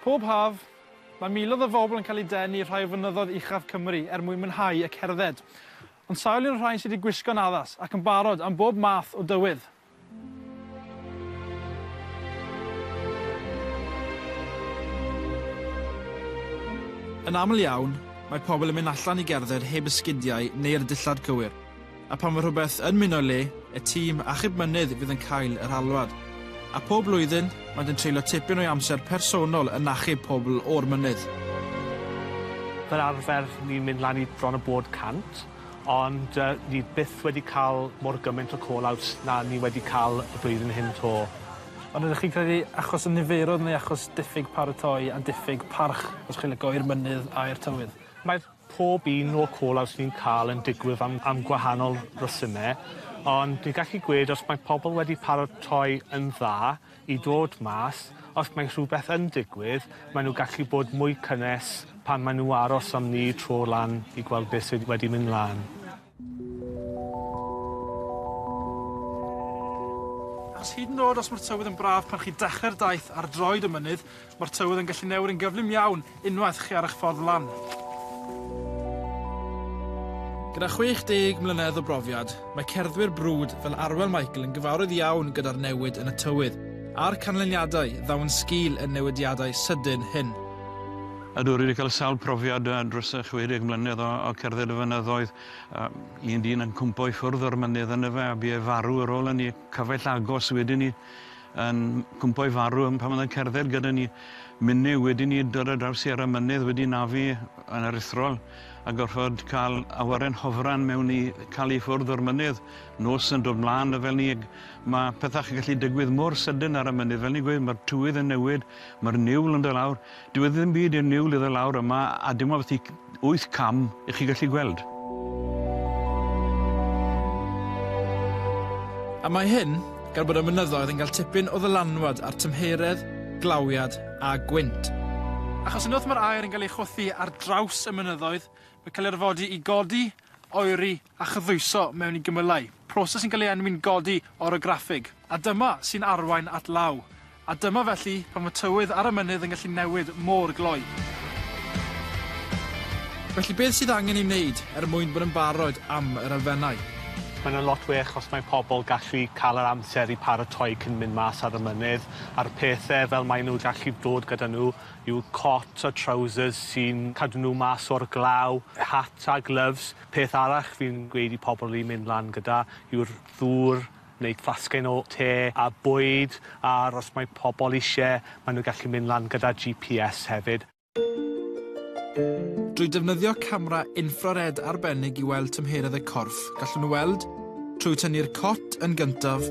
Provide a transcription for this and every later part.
Pob haf, mae miloedd o fobl yn cael eu denu i'r rhai o fynyddoedd uchaf Cymru er mwyn mwynhau y cerdded. Ond sawl un o'r rhain sydd wedi gwisgo'n addas ac yn barod am bob math o dywydd? Yn aml iawn, mae pobl yn mynd allan i gerdded heb esgidiau neu'r dillad cywir. A pan fo rhywbeth yn muno le, y tîm achub mynydd fydd yn cael yr alwad. A pob blwyddyn, maent yn treulio tipyn o'i amser personol yn achub pobl o'r mynydd. Fel arfer, ni'n mynd lan i bron a bod 100, ond yy ni byth wedi cael mor gymaint o call-outs na ni wedi cael y blwyddyn hyn 'to. Ond ydych chi'n credu achos y niferoedd neu achos diffyg paratoi a diffyg parch, os chi'n lico, i'r mynydd a i'r tywydd? Mae'r Pob un o'r call-outs ni'n cael yn digwydd am am gwahanol resymau, ond dwi'n gallu gweud os mae pobl wedi paratoi yn dda i dod mas, os mae rhywbeth yn digwydd, maen nhw'n gallu bod mwy cynnes pan maen nhw aros am ni tro lan i gweld beth sydd wedi mynd lan. Achos hyd yn oed os mae'r tywydd yn braf pan chi'n dechrau'r daith ar droed y mynydd, mae'r tywydd yn gallu newid yn gyflym iawn unwaith chi ar eich ffordd lan. Gyda 60 mlynedd o brofiad, mae cerddwyr brwd fel Arwel Michael yn gyfarwydd iawn gyda'r newid yn y tywydd a'r canlyniadau ddaw yn sgil y newidiadau sydyn hyn. Ydw, rwy wedi cael sawl profiad dros 60 mlynedd o cerdded y fynyddoedd. Un dyn yn cwmpo i ffwrdd o'r mynydd yn y fe a bu e farw ar ôl hynny. Cyfaill agos wedyn ni yn cwmpo i farw pan oedd e'n cerdded gyda ni. Minnau wedyn ni dod ar draws Sierra Mynydd wedi nafu yn aruthrol a gorfod cael awyren hofran mewn i cael ei ffwrdd o'r mynydd. Nos yn dod mlaen a fel ni, mae pethau yn gallu digwydd mor sydyn ar y mynydd. Fel ni'n gweud, mae'r tywydd yn newid, mae'r niwl yn dod lawr. Dyw e ddim byd i'r niwl i ddod lawr yma a dim ond felly wyth cam i chi gallu gweld. A mae hyn gan bod y mynyddoedd yn cael tipyn o ddylanwad ar tymheredd, glawiad a gwynt. Achos unwaith mae'r aer yn cael ei chwythu ar draws y mynyddoedd, mae'n cael ei orfodi i godi, oeri a chyddwyso mewn i gymylau, proses sy'n cael ei enwi'n godi orograffig. A dyma sy'n arwain at law. A dyma felly pan fo tywydd ar y mynydd yn gallu newid mor gloi. Felly beth sydd angen ei wneud er mwyn bod yn barod am yr elfennau? Mae hwnna'n lot well os mae pobl gallu cael yr amser i paratoi cyn mynd mas ar y mynydd, a'r pethe fel mae nhw gallu dod gyda nhw yw cot a trowsus sy'n cadw nhw mas o'r glaw, hat a gloves. Peth arall fi'n gweud i pobl i mynd lan gyda yw'r ddŵr, wneud fasged o te a bwyd, a'r os mae pobl isie, maen nhw'n gallu mynd lan gyda GPS hefyd. Drwy defnyddio camera infrared arbennig i weld tymheredd y corff, gallwn nhw weld trwy tynnu'r cot yn gyntaf,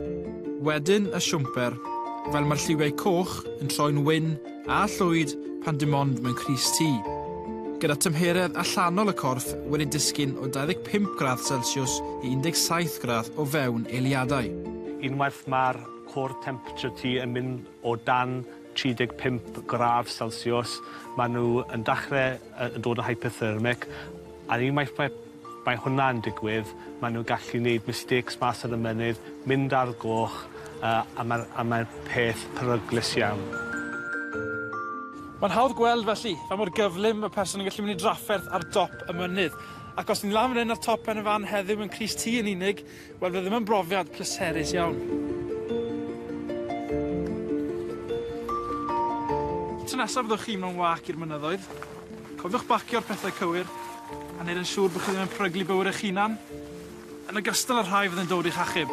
wedyn y siwmper, fel mae'r lliwiau coch yn troi'n wyn A llwyd pan dim ond mewn crys T. Gyda tymheredd allanol y corff wedi disgyn o 25 gradd Celsiws i 17 gradd o fewn eiliadau. Unwaith mae'r core temperature T yn mynd o dan 35 gradd Celsiws, maen nhw yn dechrau yn dod yn hyperthermic, a unwaith mae Mae hwnna yn digwydd, maen nhw'n gallu neud mistakes mas ar y mynydd, mynd ar goch, a mae'r a mae'r peth peryglus iawn. Mae'n hawdd gweld felly, faint mor gyflym mae person yn gallu mynd i drafferth ar dop y mynydd. Ac os ni'n lan fan hyn ar top Pen-y-fan heddiw mewn crys T yn unig, Wel, fe ddim yn brofiad pleserus iawn. Tro nesaf fyddwch chi mewn wâc i'r mynyddoedd, cofiwch bacio'r pethau cywir, a neud yn siŵr bod chi ddim yn peryglu bywyd eich hunan, yn ogystal â'r rhai fydd yn dod i'ch achub.